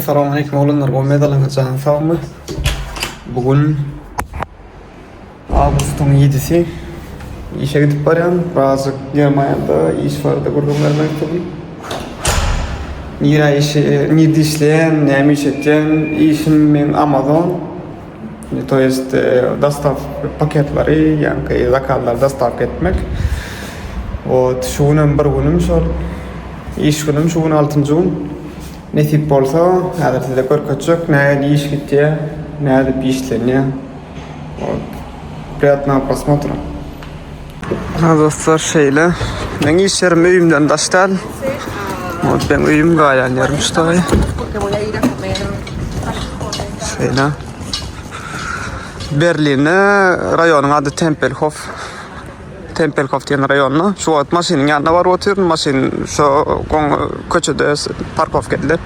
Salam aleýkum oglanlar gowmedyňyz janyň sagmy bu gün awgustyň ýedisi işe gidip barýan birazjyk germaniýada iş barada gürrüň bermek üçin nirä işe nirde işleýän näme iş etýän işim men amazon to есть dostaw paketlary ýaňky zakazlary dostavka etmek вот şu günem bir günüm şol iş günüm şu gün altynjy gün Nesip bolsa häzir size görkezjek nähili iş gitýär, nädip işlenýär. Ot. Priýatnogo prosmotra. Ha dostlar şeýle. Meň iş ýerim öýümden daş däl. Ot ben öýüm gaýan ýerim şutaý. Şeýle. Berlinde raýonyň ady Tempelhof. Tempelhof diýen raýonda şu wagt maşynyň ýanyna baryp otyryn. Maşyn şu goň köçede parkowka edilen.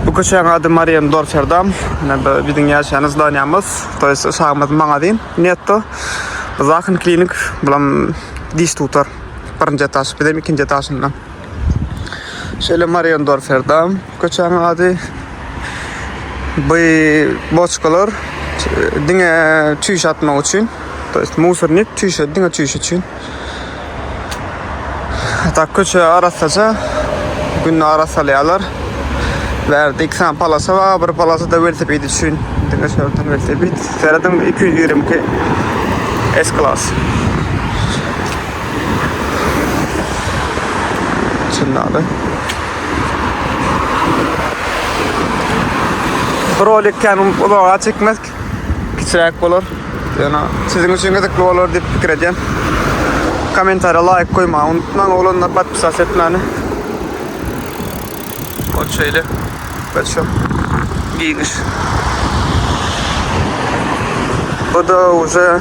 Bu köçäň ady Mariendorferdam. Ine bu biziň ýaşaýan zdanýamyz, to ýest uşagymyzyň magazin Netto. Bu Zachen klinik, bulam diş tutar. Birinji etaž, bizem ikinji etažynda. Şeýle Mariendorferdam. Köçäň ady by boçkalar diňe çüýş atmak üçin. To ýest musornik çüýşe diňe çüýş üçin. Hatta köçe arassaja günde arassalýarlar. Bärde iki sany palasa bar, bir palasa da welosiped üçin. Diňe şerden welosiped. Serediň 222 S klas. Çynlady. Bu rolik kän uzaga çekmez. Kiçiräk bolar. Ýöne siziň üçin gyzykly bolar diýip pikir edýän. Kommentariýa laýk goýmagy unutmaň oglanlar, podpisas etmäni. Ol şeýle. Biz şu giňiş. Bu da уже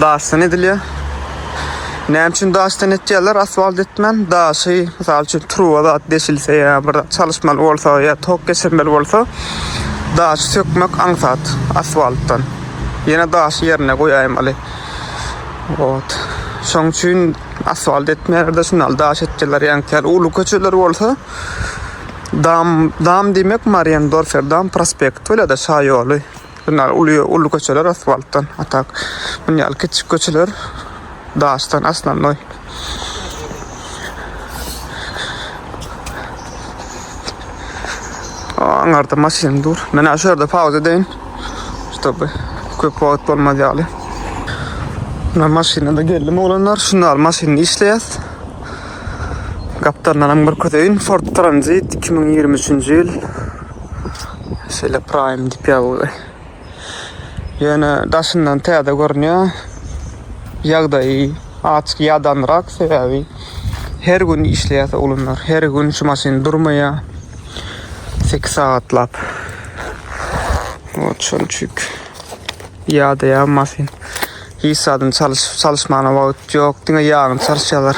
daşdan edilýär. Näme üçin daşdan etýärler asfalt etmän? Daşy, mysal üçin, truba zat deşilse ýa bir zat çalyşmaly bolsa ýa tok geçirmeli bolsa, daşy sökmek aňsat asfaltdan. Ýene daşy ýerine goýaýmaly. Ot. Şoň üçin asfalt etmeýärler, şundan daş etýärler. Ýaňky uly köçeler bolsa, dam, dam diýmek Mariendorfer dam prospekt bolýar-da, şaýoly. Şundan uly uly köçeler asfaltdan a tak muny ýaly kiçijik köçeler daşdan aslannoý. Aňarda maşyn dur. Men şu ýerde pauza deýin. Ştoby köp wagt bolmaz ýaly. Men maşyna da geldim oglanlar. Şunda al maşyny işleýäs. Gapdandan hem görkezeýin. Ford Transit 2023-nji ýyl. Şeýle prime dip ýaly. Ýöne daşyndan täze görünýär. Ýagdaýy açyk ýadanrak sebäbi her gün işleýär oglanlar. Her gün şu maşyn durmaýar. 8 sagatlap. Şonuň üçin ýadaýar maşyn. Hiç zadyny çalyşyp çalyşmana wagt ýok. Diňe ýagyny çalyşýarlar.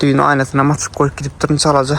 Düýn aýnasyny açyk goýup gidipdirin çalaja.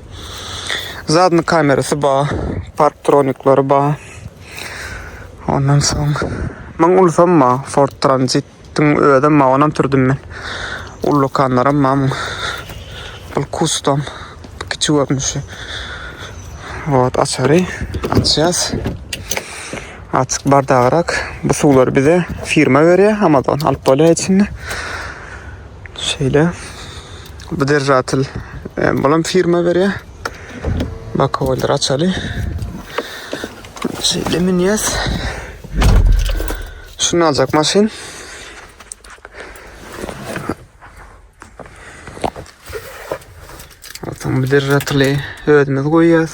Zadny kamerasy ba, parktroniklary ba. Ondan soň myň ulsam ba, Ford Transit-iň özem ba, onam sürdüm men. Ullukanlaram ba myň. Bul kustom, kiçi görnüşi. Wot açary, açýas. Açyk bardagrak. Bu suwlary bize firma berýär, Amazon alyp bolýar içinde. Şeýle. Bu derjatyl bulam firma berýär. Bakowlar açaly. Şeýle minýäs. Şunu aljak maşyn. Altan bu derjatyly özümiz goýýas.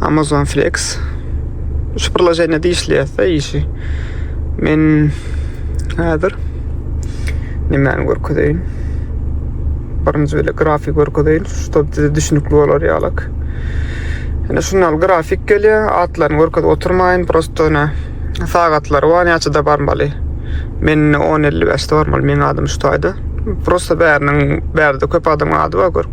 Amazon Flex. Şu priloženiýe diýişliýärse işi. Men häzir nimäni görkezeýin? Birinji bile grafik görkezeýin, şoň size düşünikli bolar ýalyk. Ýöne şunda grafik gelýär, atlaryny görkezip oturmaýyn, prosto ýöne sagatlary bar, näçede barmaly. Men 10.55-de barmaly, meniň adym şu taýda. Prosto bäriniň, bärde köp adamyň ady bar, gör.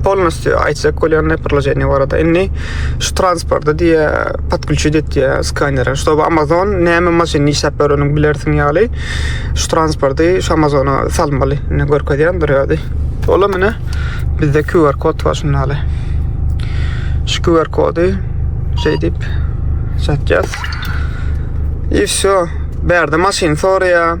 Polnostýu aýtjak bolýan neprloženiýe barada. Indi şu transporty diýe podklýuçit etýä skanere. Şu bu Amazon näme maşyny işläp bereniň bilersiň ýaly. Şu transporty şu Amazona salmaly. Indi görkezýän durýardy. Ola mine bizde QR kod bar şunda ýaly. Şu QR kody şeýdip satýas. I şu bärde maşyn soraýa.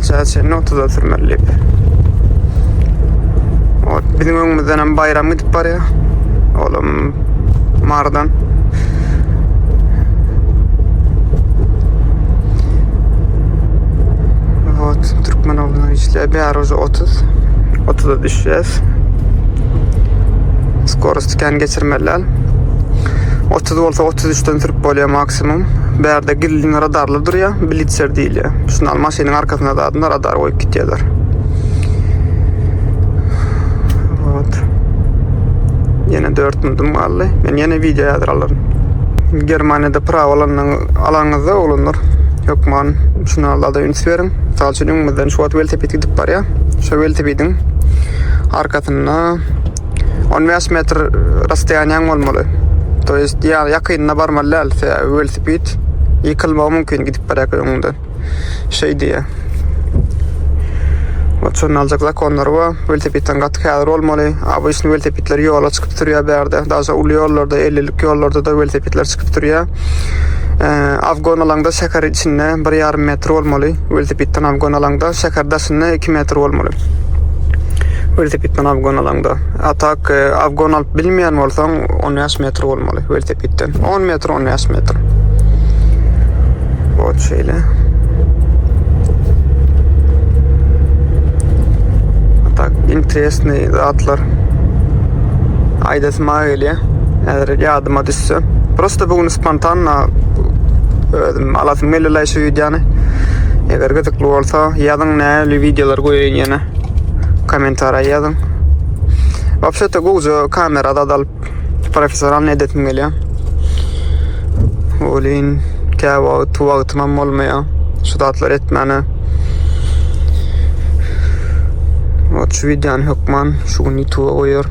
Çaýa çenli otuza sürmeli diýip. Ot, biziň öňümizden hem bayram gidip barýar. Olam mardan. Ot, Türkmen oğlan işler. Bir ara oza 30. 30'a düşeceğiz. Skoros tüken geçirmeliler. 30 olsa 33'ten sürüp bolýar max. Maksimum bärde gizlin radarlar durýa, blitzer diýilýä. Şunda al maşynyň arkasyna zadynda radar goýup gitýärler. Wot. Ýene 4 minutum galdy. Men ýene wideo ýazyr alaryn. Germaniýada prawa alanyň alanyňyzda oglanlar hökman şuna alada üns beriň. Mysal üçin öňümizden şu wagt welosiped gidip barýa. Şu welosipediň arkasynda On bäş metr rastoýanýaň bolmaly. To ýest ýa ýakynda barmaly däl, sebäbi welosiped ýykylmagy mümkin gidip barýarka öňünde. Şeý diýýär. Oçun aljak zakonlary bar. Welosipedden gaty häzir bolmaly. ABŞ-ny welosipedler ýola çykyp sürýär bärde. Daşa uly ýollarda, ellilik ýollarda-da welosipedler çykyp sürýär. Afgon alaňda şäher içinde bir ýarym metr bolmaly. Welosipedden alyp gonalaňda şäher daşynda iki metr bolmaly. Welosipedden alyp gonalaňda. A tak e, awgon alyp bilmeýän bolsaň, on bäş metr bolmaly welosipedden. On metr, on bäş metr. Ot şeýle. A tak interesnyý zatlar. Aýdasma gelýär. Häzir ýadyma düşse. Prosta bu gün spontanna özüm Alasym geldi şu videony. Eger gyzykly bolsa, ýazyň näli videolar goýaýyn ýene. Kommentariýa ýazyň. Wapşetde gowja kamera zat alyp, professional edesim gelýär. Olin kä wagt wagtym hem bolmaýar. Şu zatlar etmäne. Ot şu videony hökman şu gün YouTube goýar.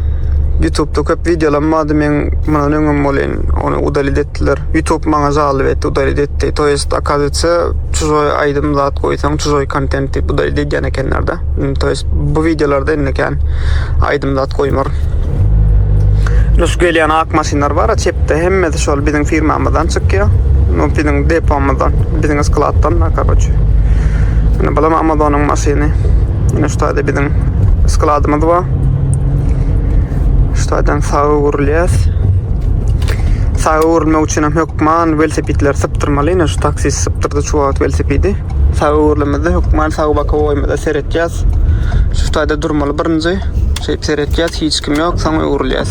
YouTube-da köp videolaryň bardy, men mundan öňem bolin Ony udalit etdiler. YouTube maňa jalyp etdi, udalit etdi. To jest akazyýetsi çuzoý aýdym zat goýsaň, çuzoý kontent diýip udalit edýän ekenlerde. To jest bu wideolarda indi kän aýdym zat goýmar. Nus gelýän ak maşynlar bar, a çepde hemmesi şol biziň firmamyzdan çykýar. No biziň depomyzdan, biziň skladdan da karoç. Indi bulam Amazonyň maşyny. Indi şu taýda biziň skladymyz bar. Şu taýdan Saga gurulýas. Saga gurulmak üçin hem hökman velosipedleri sypdyrmaly. Ine şu taksist sypdyrdy şu wagt velosipedi. Saga gurulmazda hökman saga baka goýmada seretýäs. Şu taýda durmaly birinji. Şeýip seretýäs, hiç kim ýok, soň öwrülýäs.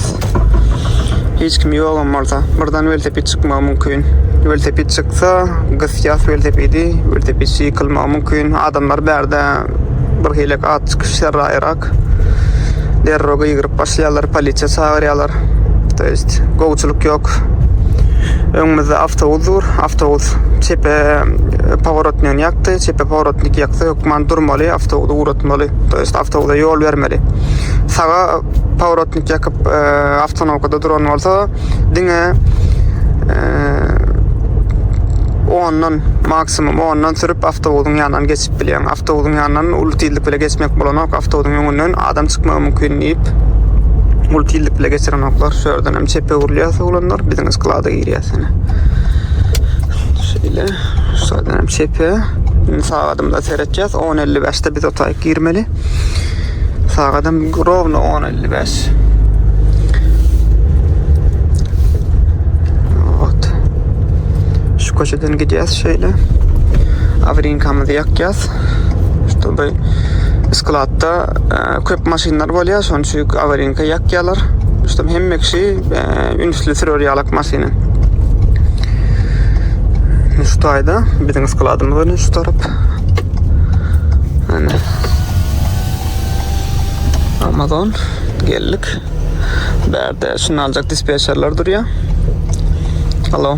Hiç kim ýok hem bolsa, birden velosiped çykmagy mümkin. Velosiped çyksa, gysýas velosipedi, velosiped ýykylmagy mümkin. Adamlar bärde bir hilek at çykyş serraýrak derro gygyryp başlaýarlar polisiýa çagyrýarlar to jest gowçulyk ýok öňümizde awtobus dur awtobus çepe e, paworotny ýakdy çepe paworotny ýakdy hökman durmaly awtobusy ugratmaly to jest awtobusa ýol bermeli saga paworotny ýakyp e, awtonowkada duran bolsa diňe e, ondan maksimum ondan sürüp awtobusyň ýanyna ýanyndan geçip bilýäň. Awtobusyň ýanyndan uly tizlik bile geçmek bolanok. Awtobusyň öňünden adam çykmagy mümkin diýip, uly tizlik bile geçirenoklar. Şu ýerden hem çepe öwrülýäs oglanlar. Biziň sklada girýäs ýene. Şeýle, şu ýerden hem çepe. Indi sagadymyza seretjäs. 10.55-de biz otaýyk girmeli. Sagadym rowno 10.55. Eden gidýäs şeýle. Awrinkamyzy ýakýas. Şu bir skladda e, köp maşynlar bolýar, şonuň üçin awrinka ýakýarlar. Şu hemme kişi e, ünsli sürür ýalak maşyny. Şu taýda biziň skladymyz ony şu tarap. Ana. Amazon geldik. Bärde şunu aljak dispetçerler durýar. Hello.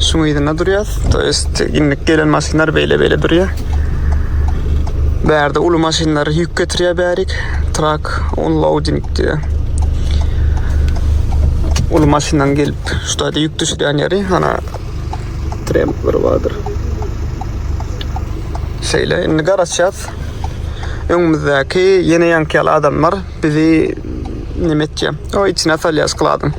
Şuň ýerinde durýas. To ýest indik gelen maşynlar beýle-beýle durýar. Bärde uly maşynlar ýük getirýär bärik. Trak unloading diýýär. Uly maşyndan gelip, şu taýda ýük düşürýän ýeri, ana trempler bardyr. Şeýle, indi garaşýas. Öňümizdäki ýene ýankyýaly adamlar bizi neme etýär. O içine salýar skladyň.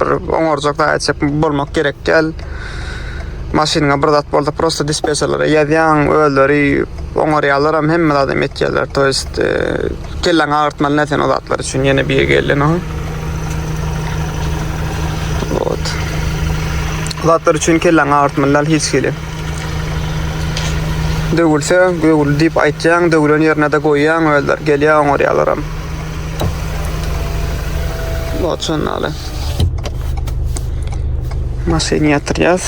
Bir oňarjak zat etjek bolmak gerek däl. Maşynyňa bir zat bolsa prosta dispetçerlere ýazýaň, özleri oňarýarlar hem hemme zat hem etýärler. To jest e, kelläňi agyrtmaly näsen o zatlar üçin ýene bir gelin o. Ot. Zatlar üçin kelläňi agyrtmaly däl hiç hili. Döwülse, döwül diýip aýtýaň, döwülen ýerine-de goýýaň, özler gelýär, oňarýarlar hem. Loçan aly. Maşyn ýatyrýas.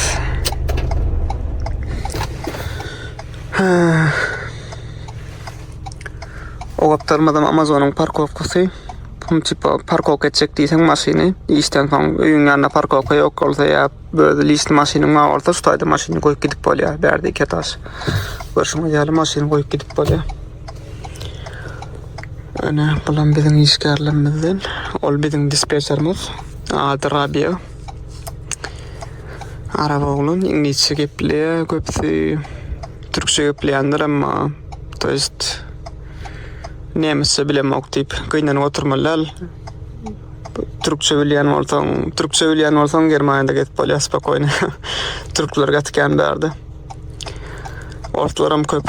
O gapdalmazam Amazonyň parkowkasy. Bunu tipa parkowka etjek diýseň maşyny, işden soň öýüň ýanynda parkowka ýok bolsa ýa böyle lişli maşynyň bar bolsa, şu taýda maşyny goýup gidip bolýar. Bärde iki etaž. Görşüňiz ýaly maşyny goýup gidip bolýar. Ene, bulam biziň işgärlerimizden. Ol biziň dispetçerimiz. Ady Rabia. Arap oglan, iňlisçe gepleýär, köpüsi türkçe gepleýändir, emma to jest nemisçe bilemok diýip gynanyp oturmaly däl. Türkçe bilýän bolsaň, türkçe bilýän bolsaň Germaniýada gezip bolýar spokoýno. Türkler gaty kän bärde. Orslaram köp.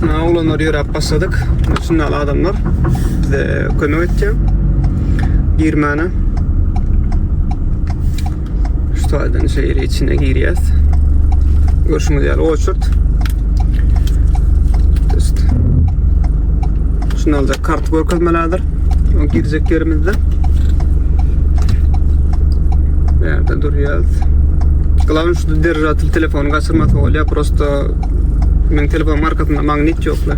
Mana olanlar ýöräp başladyk. Şunda adamlar bize kömek etdi. Girmäne. Şu taýdan şeýle içine girýäs. Görşüňiz ýaly oçurt. Şunda da kart görkezmelerdir. O girjek yerimizde. Nerede durýas? Glavni şu derejatly telefon Ony gaçyrmasa bolýar, prosto meniň telefon markasynda magnit ýokla.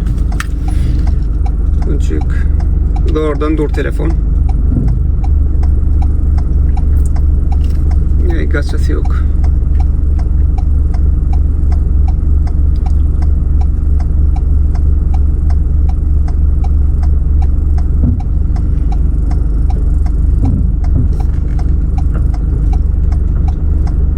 Onçuk zordan dur telefon. Ýa gaçasy ýok.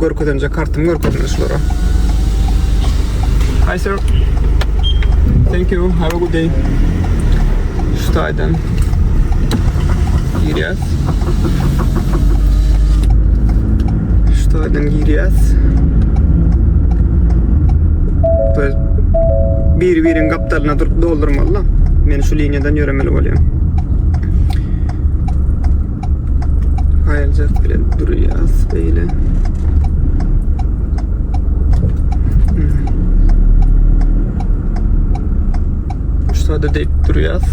Görkezemje kartymy görkezdim şulara. Hi sir. Thank you. Have a good day. Şu taydan girýäs. Şu taydan girýäs. Böyle bir birin kaptalına durup doldurmalı. Men şu linyadan yöremeli olayım. Aýaljak bilen durýas beýle. Şurada deyip durýas.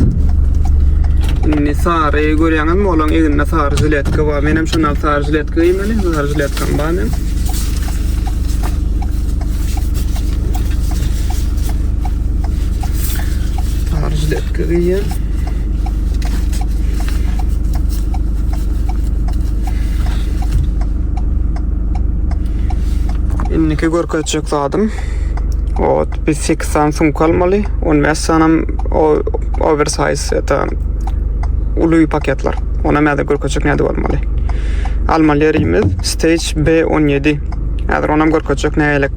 Indi sary görýäňizmi? Olaň eginde sary jiletka bar. Men hem şondan sary jiletka geýmeli. Sary jiletkam bar men. Sary jiletka geýýän. Indiki görkezjek zadym o bir 8 sany sumka almaly 15 sanam o oversize ýa-da uly paketler ona mäde görkezjek näde bolmaly almaly ýerimiz stage B17 häzir onam görkezjek nägelik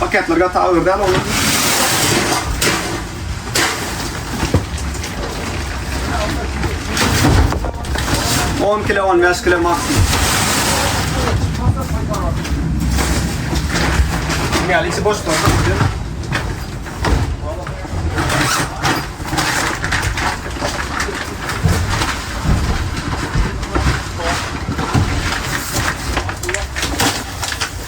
Paketler gat agyr däl olar. On kilo, on beş kilo maksimum. Yani içi boş koydum.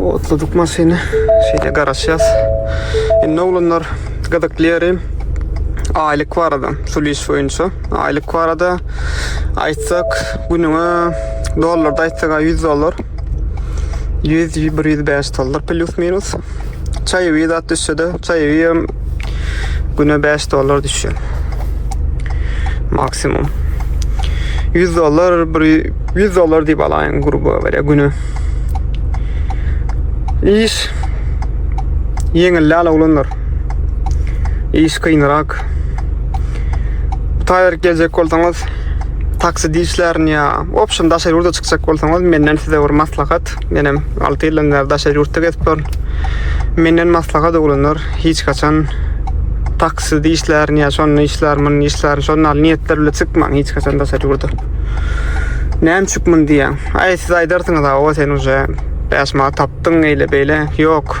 Otladyk maşyny. Şeýle garaşýas. Indi oglanlar gyzykly ýeri aýlyk barada, şul iş boýunça. Aýlyk barada aýtsak, günüňe dollarda aýtsak 100 dollar. 100 105 dollar plus minus. Çaýewi zat düşse-de, çaýewi hem güne 5 dollar düşýär. Maksimum. 100 dollar, 100 dollar diýip alaýyň gruba berýär güne. Iş ýeňilläl oglanlar. Iş kynrak. Taýýar geljek bolsaňyz, taksidi işlerini ýa, opşum daşary ýurda çykjak bolsaňyz, menden size bir maslahat. Menem 6 ýyldan bäri daşary ýurtda gezip dur. Menden maslahat oglanlar hiç haçan takside işlärin ýa şonda işlär, munda işlär, şonda al niýetler bilen çykmaň hiç haçan daşary ýurda. Näme üçin mun diýýän? Aý siz aýdarsyňyz, o sen uje 5 manat tapdyň eýle beýle. Ýok.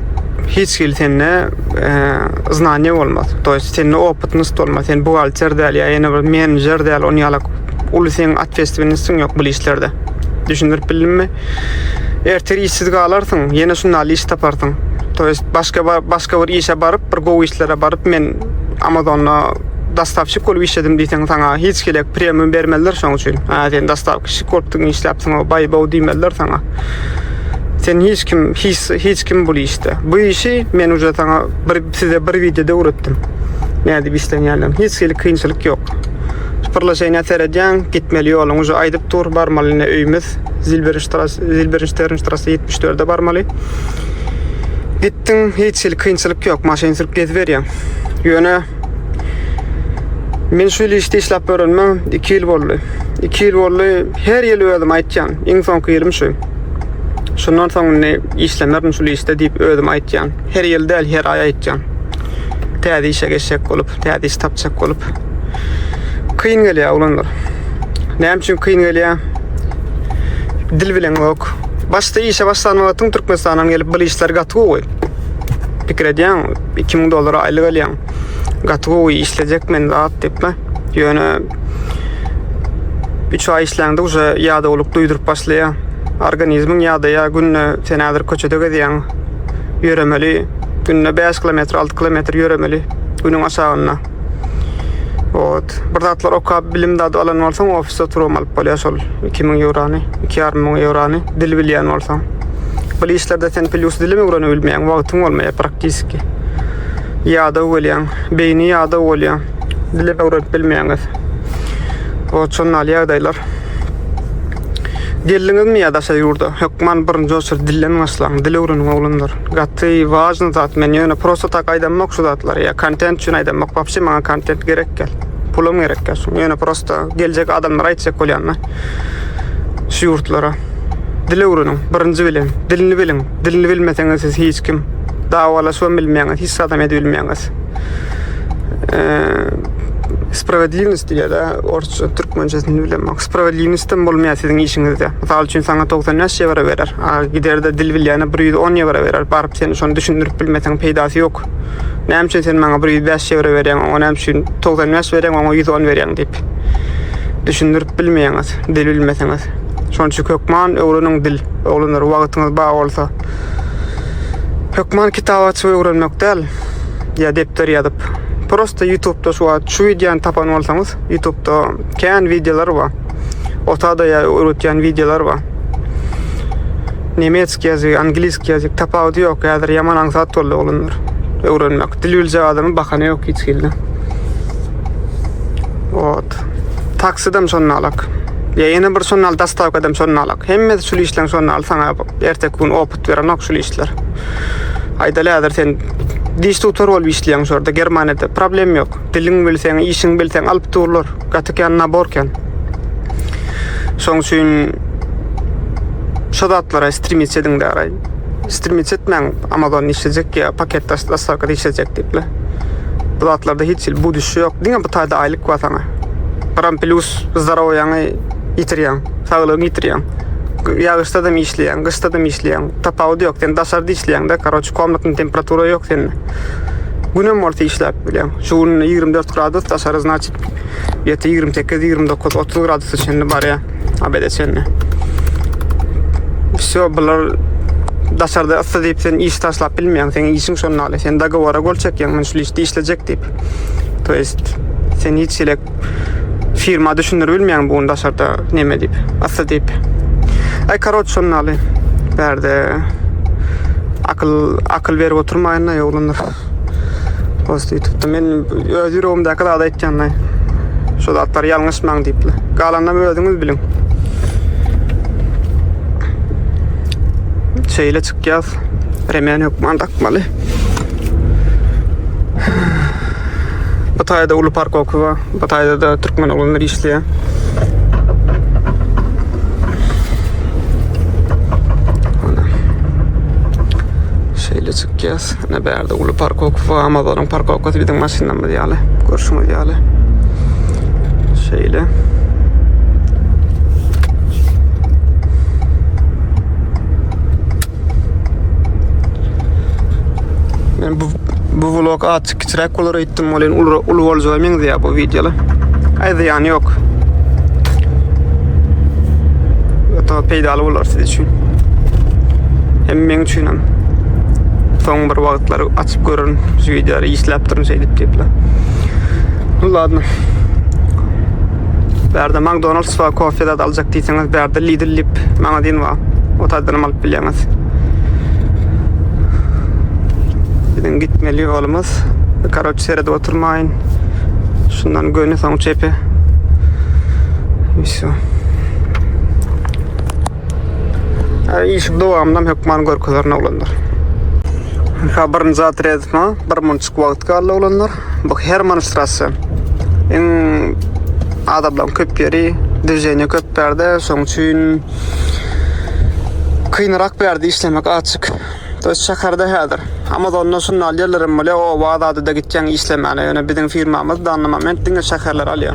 hiç hili sende znaniýa bolmaz. To ýest sende opytnyst bolmaz. Sen buhgalter däl ýa ýene bir menejer däl, ony ýalak uly sen atwestwinistiň ýok bu işlerde. Düşündirip bildimmi? Ertir işsiz galarsyň, ýene şunda iş taparsyň. To ýest başga başga bir işe baryp, bir gowy işlere baryp men Amazonda dastavşik bolup işledim diýseň saňa hiç hili premium bermezler şoň üçin. Ha sen dastavşik bolup işläpsiň, o baý bow diýmezler saňa. Sen hiç kim, hiç, hiç kim bu işte. Bu işi men uca sana bir, size bir videoda öğrettim. Ne edip işlenýärler. Hiç hili kynçylyk yok. Pırlaşayna seredyan, gitmeli yolun uca aydıp dur, barmaly ne öyümüz. Zilberinşterin ştrası 74'e barmaly. Gittin, hiç hili kynçylyk yok. Maşin sürüp gezip berýän. Yöne Men şu ýyl işde işläp ýörenime 2 ýyl boldy. 2 ýyl boldy. Her ýyl özüm aýtýan, iň soňky ýylym şu. Şundan soň indi işlemerin şu işde diýip özüm aýtýan. Her ýyl däl, her aý aýtýan. Täze işe geçjek bolup, täze iş tapjak bolup. Kyn gelýär oglanlar. Näme üçin kyn gelýär? Dil bilen ok. Başda işe başlan wagtyň Türkmenistana gelip bu işler gaty gowy. Pikir edýän. 2000 dollara aýlyk alýan. Gaty gowy işlejek men zat diýipme. Ýöne 3 aý işläňde uje ýadawlyk duýduryp başlaýar. Organizmiň ýadaýar günde sen häzir köçede gezýäň. Ýöremeli. Günde 5 kilometr, 6 kilometr ýöremeli. Günüň aşagynda. Ot, bir zatlar okap, bilim dadyp alan bolsaň, ofisde oturup alyp bolýar şol 2000 eurony, 2,5 müň eurony dil bilýän bolsaň. Bu işlerde sen plyus dili öwrenip bilmeýäň, wagtyň bolmaýar praktiski. Ýada bolýaň, beýni ýada bolýar. Dili öwrenip bilmeýäňiz. O çonal ýagdaýlar. Geldiňizmi ýa-da şa ýurda? Hökman birinji oçer dilden başlaň, dil öwreniň oglanlar. Gaty wajny zat men ýöne prosta tak aýdamok şu zatlary ýa kontent üçin aýdamok wapşe maňa kontent gerek gel pulum gerek gel şu ýöne prosta geljek adamlara aýtjak bolýan men şu ýurtlara dil öwreniň birinji bilen dilini biliň dilini bilmeseňiz siz hiç kim dawalaşyp bilmeýäňiz hiç adam edip bilmeýäňiz ee, sprowadlivnost diýýär-de orsça türkmençesini bilemok Sprawedliwnostem bolmaýar siziň işiňizde. Mysal üçin saňa togsan bäş ýewro berer, a giderde dil bilýäne bir ýüz on ýewro berer, baryp sen şony düşündirip bilmeseň peýdasy ýok. Näme üçin sen maňa bir ýüz bäş ýewro berýäň, oňa näme üçin togsan bäş berýäň, oňa ýüz on berýäň diýip. Düşündirip bilmeýäňiz, dil bilmeseňiz. Şonuň üçin hökman öwreniň dil. Oglanlar wagtyňyz bar bolsa. Hökman kitap açyp öwrenmek däl, ýa depder ýazyp. Prosta ýutubda şu wagt şu wideony tapan bolsaňyz, ýutubda Kän wideolar bar. Otada ya öwretýän wideolar bar. Nemetski ýazyk, angliski ýazyk tapawudy ýok. Häzir ýaman aňsat boldy oglanlar. Öwrenmek. Dil biljek adamyň bahany ýok hiç hilde. Ot. Taksidem şonda alak. Ya ýene bir şonda al dastavkadam şonda alak. Hemmesi şul işleň şonda al saňa erteki gün opyt berenok şul işler. Aýdaly häzir sen diş tutar bolup işleýäň şurada Germaniýada problem ýok. Diliň bilseň, işiň bilseň alyp durlar. Gaty kän nabor kän. Şoň üçin şu zatlara stremitse ediň däraý. Stremitse etmäň Amazon işlejek ýa paket daşlarka işlejek diýipler. Bu zatlarda hiç hil buduş ýok. Diňe bu taýda aýlyk bar saňa. Gram plus zdarowyňy ýitirýäň, saglygyňy ýitirýäň. Ýagyşda da işleýäň, gyşda da işleýäň. Tapawudy ýok. Sen daşarda işleýäň-de, karoç, komnatny temperatura ýok sende. Günem bolsa işläp bilýän. Şu gün 24 gradus daşary znaçyp ýeti 28, 29, 30 gradusa çenli barýar. Abede çenli. Şu bular daşarda ıssy diýip sen iş taşlap bilmeýäň. Seň işiň şonda ýaly. Sen dogowora gol çekýäň, men şu işde işlejek diýip. To jest sen hiç elek firma düşündür bilmeýän bu daşarda neme diýip asla diýip ay karoç şonnaly berde akyl akyl berip oturmaýyn da ýoglundyr post ýetipdi men öz ýüregimdäki zady aýtýanlaý şu zatlar ýalňyşmaň diýipli galanda özüňiz biliň şeýle çykýas remen hökman dakmaly Bu taýda uly parkowka bar. Bu taýda da türkmen oglanlar işleýär. Şeýle çykýas. Ne bärde uly parkowka bar. Amazonyň parkowkasy biziň maşynlarymyz ýaly. Görşüňiz ýaly. Şeýle. Men bu bu vlog açyk kiçiräk bolar etdim bolýan uly uly boljaga meňzeýär bu wideolar. Aýda ýany ýok. Ata peýdaly bolar siz üçin. Hem men üçin hem. Soň bir wagtlar açyp görün şu wideolary işläp durun şeýdip diýipler. Ladno. Bärde McDonald's we kofe zat aljak diýseňiz, bärde Lidl dip magazin bar. O taýdanam alyp bilýäňiz. Biziň gitmeli ýolumyz. Karoç seredip oturmaýyn. Şundan göni soň çepe. Şu. Ay iş dowamynda hökman görkezerin oglanlar. Habaryn zat redma, bir munçuk wagt galdy oglanlar. Bu Herman Strasse. Iň adamlaryň köp ýeri, dwizeniýa köp bärde, şoň üçin kynrak bärde işlemek açyk. Döş şäherde häzir. Amazonda şunda alýarlar hem bolýar, oba zady da gitýäň işlemäne. Ýöne biziň firmamyz dany moment diňe şäherler alýar.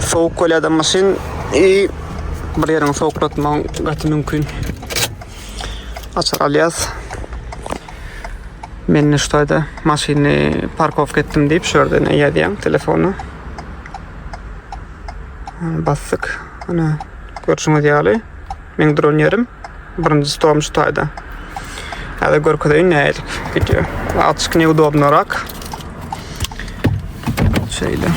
Sowuk bolýar-da maşyn i bir ýeriňi sowuklatmagyň gaty mümkin. Açar alýas. Men şu taýda maşyny parkowka etdim diýip, şu ýerden eýädýän telefony. Basdyk. Ana. Görşüňiz ýaly, meň dron ýerim birinji storm şu taýda. Häzir görkezeýin näme edip gidýär. Açyk neudobnorak. Şeýle.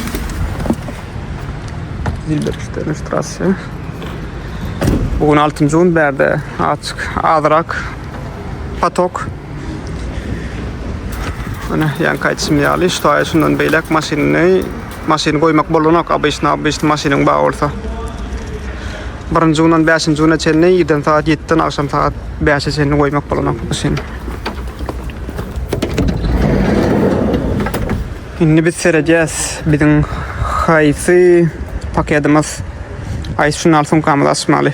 Dilberişden strasya. Bugün 6 gün bärde açyk azrak patok. Ana, yan kaçım ýaly, şu taýşundan beýlek maşynyny Maşyny goýmak bolanok obyçny obyçny maşynyň bar bolsa birinji günden bäşinji güne çenli irden sagat ýetiden agşam sagat bäşe çenli goýmak bolanok maşyny. Indi biz seredýäs biziň haýsy paketimiz haýsy şunal sumkamyzy açmaly.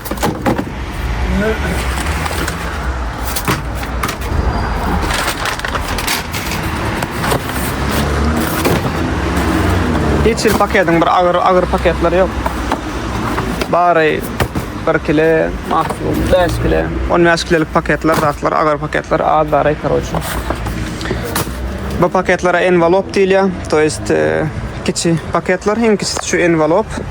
Hiç bir paketin bir agyr agyr paketleri yok. Bari 1 kile, maksimum 5 kile, 15 kilelik paketler, zatlar, agyr paketler az bari karoçi. Bu paketlere envelop diýilýär, to jest e, kiçi paketler, iň kiçisi şu envelop.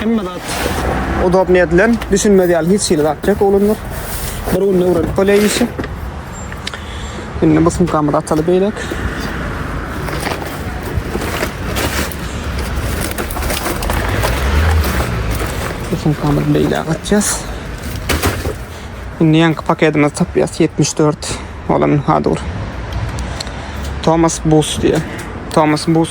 Hemme zat udobny edilen, düşünmez ýaly hiç hili zat ýok oglanlar. Bir günde öwrenip bolýar işi. Indi bu sumkamyzy ataly beýlek. Bu sumkamyzy beýläk atýas. Indi ýaňky paketimizi tapýas 74 bolan hadur. Thomas Bus diýýär. Thomas Bus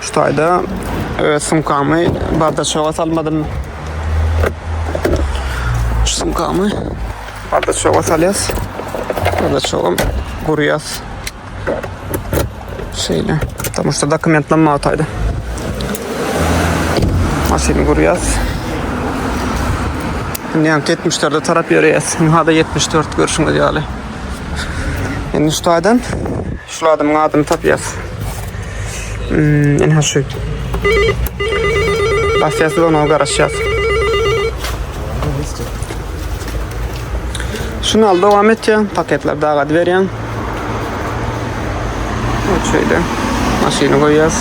Şu taýda öz sumkamy bardaçoga salmadym. Şu sumkamy bardaçoga salýas. Bardaçogam gurýas. Şeýle. Tamam şu dokumentler maňa taýda. Maşyny gurýas. Indi hem 74-e tarap ýöreýäs. Hada 74 görşüňiz ýaly. Indi şu taýdan Şul adamyň adyny tapýas. Hmm, enha şu. Basýas we ona garaşýas. Şunu al dowam et ya. Paketler daha gad berýän. Şöyle. Maşyny goýýas.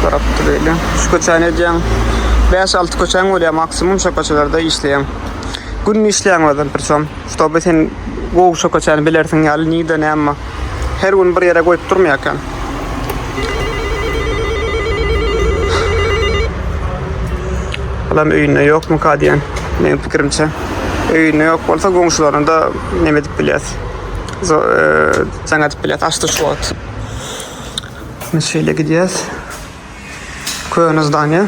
Garap durýar. Şu köçäni edýän. 5-6 köçäň bolýar maksimum şu köçelerde işleýän. Gün işleýän adam bir son. Ştoby sen gowşa köçäni bilersiň ýaly nirde näme her gün bir ýere goýup durmaýarkan. Adam öýünde ýokmyka diýen meniň pikirimçe. Öýünde ýok bolsa goňşularyna da näme edip bilýäs. Jaň edip bilýäs açdy şu wagt. Biz şeýle gidýäs. Köne zdaniýa.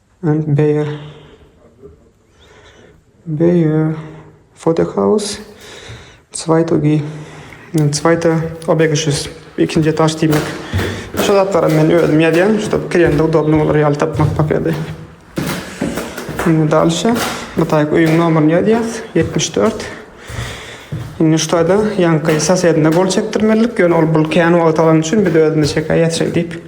And beýer beýer fodehaus zweitogi zweite obegişis ikinji etaş diýmek şu zatlaram men özüm ýazýan şuda kirende udobny bolar ýaly tapmak makady indi dalşa bu taýk öýüň nomerini ýazýas ýetmiş dört Indi şu taýda ýaňky sosedine gol çekdirmelilik, ýöne ol bul kän wagt alan üçin biz özümiz çekäýýäs şeýdip.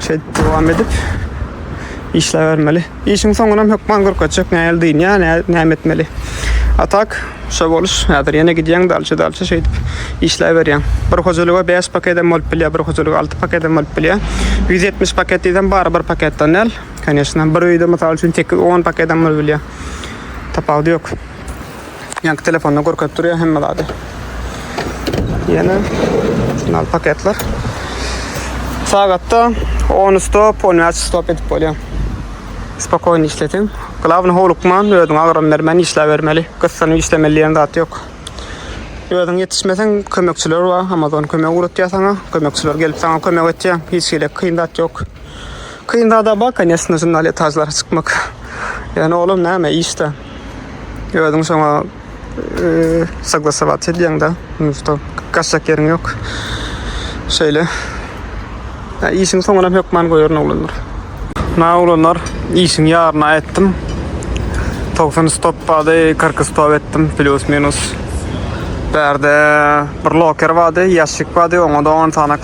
Şeýdip dowam edip işläbermeli. Işiň soňunam hökman görkezjek nähili dynýa, näme etmeli. A tak, şo boluş, häzir ýene gidýäň dalçy-dalçy şeýdip işläberýäň. Bir hojalyga bäş pakedem bolup bilýär, bir hojalyga alty pakedem bolup bilýär. Ýüz ýetmiş paket diýsem, bary bir paketden däl, konýeçna. Bir öýde, mysal üçin, tekiz on pakedem bolup bilýär. Tapawudy ýok. Ýanky telefonda görkezip durýar hemme zady. Ýene şunal paketler. Sagatda 10 stop, 10 stop edip bolýar. Spokojny işletiň. Glawny howlukman, özüňe agram bermän işläbermeli. Gyssanyp işlemeli diýen zat ýok. Özüň ýetişmeseň, kömekçiler bar. Amazon kömek ugratýar saňa. Kömekçiler gelip saňa kömek etýär. Hiç hili kyn zat ýok. Kyn zada bar, конечно, şundan etajlara çykmak. Ýöne olam näme, işde. Özün şoňa e, saglasabat edýäň da. Musto gaçjak ýeriň ýok. Şeýle. Ya işiň soňuna hökman goýaryn oglanlar. Na oglanlar, işiň ýaryna etdim. 90 stop bady, 40 stop etdim plus minus. Bärde bir loker bady, ýaşyk bady, oňa da 10 tane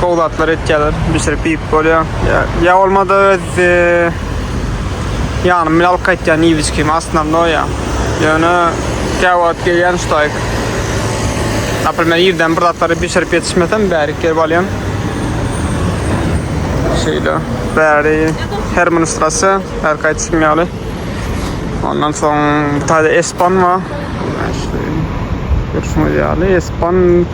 Gowy zatlar etýärler. Bişirip iýip bolýar. Ya, ya olmada öz e, ýanym bilen alyp gaýtýan iýibiçkim aslynda ya. Ýöne käwagt gelýän şutaýk. Naprimler ýerden bir zatlary bişirip ýetişmesem bärik gelip alýan. Şeýle bäri her ministrasy her gaýtysym ýaly. Ondan soň bir tane espan bar. Görüşüňiz ýaly espan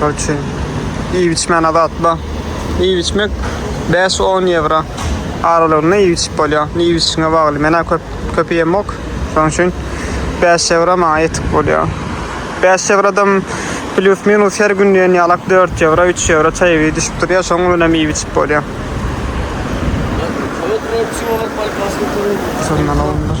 Korotçe, iýip içmän azatla. Iýip içmek 5-10 ýewro aralygynda iýip içip bolýar. Iýip içişiňe bagly. Menä köp köp ýemok. Şonuň üçin 5 ýewro maňa ýetik bolýar. 5 ýewrodam plus minus her gün diýen ýalak 4 ýewro, 3 ýewro çaý bir düşüp durýar. Şoň bilen hem iýip içip bolýar. Şondan alyndyr.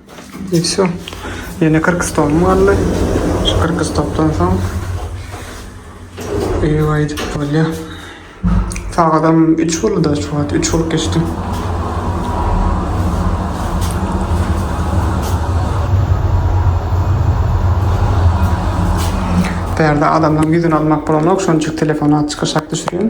I wsyo. Ýene kyrk stolum galdy. Şu kyrk stopdan soň ew aýdyp bolýar. Sagadam üç boldy-da şu wagt. Üç bolup geçdi. Bärde adamlaryň ýüzüni almak bolanok, şonçuk telefona çykyşak düşürýän.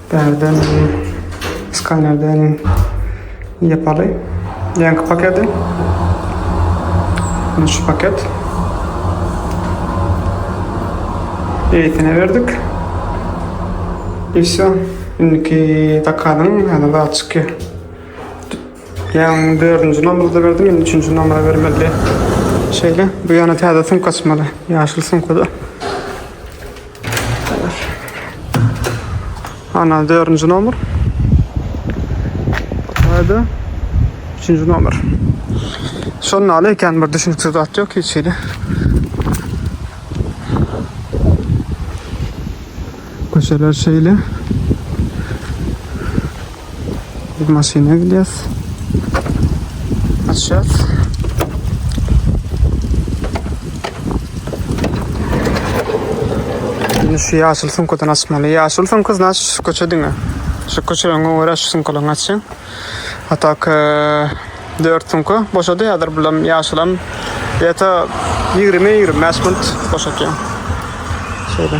Bärde meni skanerden ýapaly. Ýaňky paketi. Mine şu paket. Eýtine berdik. И все. Indiki zakazyň häzir zat çykýar. Ýaňky 4-nji nomerda berdim, indi 3-nji nomera bermeli. Şeýle, bu ýana täze sumka açmaly. Ýaşyl sumkada. Ana dördünci nomer. Hadi. Üçünci nomer. Şonun aly eken bir düşünüksiz zat yok hiç şeyde. Köşeler şeyle. Biz maşyna gidýäs. Açýas. Indi şu ýaşyl sumkadan açmaly. Ýaşyl sumka znaç şu köçe diňe. Şu köçe öňe görä şu sumkadan açýan. A tak 4 sumka boşady häzir bulam ýaşylam. Ýata 20-25 minut boşatýan. Şeýle.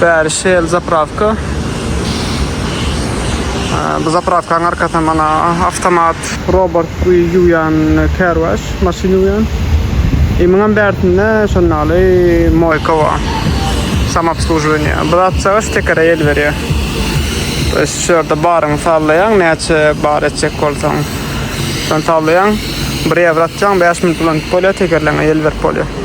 Bäri Shell zapravka. Bu zapravkanyň arkasynda mana avtomat robot ýuwýan kärwaş, maşyn ýuwýan. E muňam bärsinde şonda ýaly moýka bar. Samoobsluživaniýe. Bu zatçaga stekere el berýär. To ýest şu ýerde baryňy sallaýaň, näçe bar etjek bolsaň. Şony sallaýaň, bir ýewro atýaň, bäş minut ulanyp bolýar, tekerleňe el berip bolýar.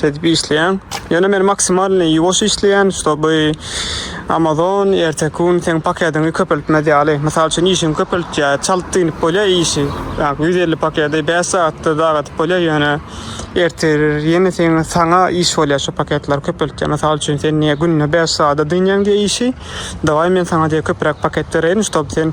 Şeýdip işleýän. Ýöne men maksimalny ýuwaş işleýän, ştoby Amazon erteki gün seň paketiňi köpeltmez ýaly. Mysal üçin işiňi köpeltýär, çalt dynyp bolýar işi. Ýagny ýüz elli paketi bäş sagatda dagadyp bolýar, ýöne ertiri ýene seňe saňa iş bolýar şu paketleri köpeltýär. Mysal üçin sen diýýär günde bäş sagada dynýaň diýýär işi, dawaý men saňa diýýär köpräk paket bereýin, ştoby sen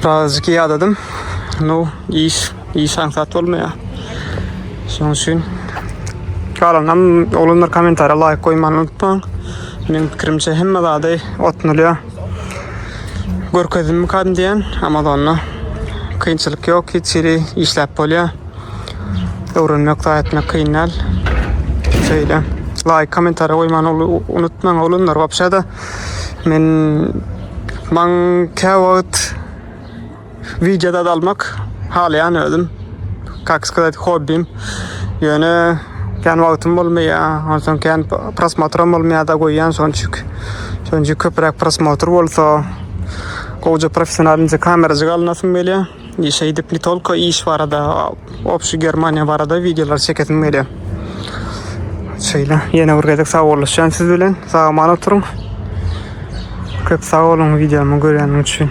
Birazcık ýadadım. No, iş, iş aňsat bolmaýar. Şonuň üçin galanam oglanlar kommentariýa laýk goýmany unutmaň. Meniň pikirimçe hemme zady otnulýar. Görkezdim kan diýen Amazonda. Kynçylyk ýok, hiç ýeri işläp bolýar. Öwrenmek, taý etmek kyn däl. Şeýle. Laýk, kommentariýa goýmany unutmaň oglanlar. Wapşa-da Men maň kä wagt wideo zat almak halaýan özüm. Kak skazat hobbim. Ýöne kän wagtym bolmaýar. Onsoň kän prosmotram bolmaýar da goýýan şonçuk. Şonçuk köpräk prosmotr bolsa gowja professional inje kamerajyk alynasym gelýär. Şeýdip ne tolko iş barada obşi Germaniýa barada wideolar çekesim gelýär. Şeýle ýene bir gezek sagbollaşýan siz bilen. Sag aman oturyň. Köp sag boluň wideomy görýäniň üçin.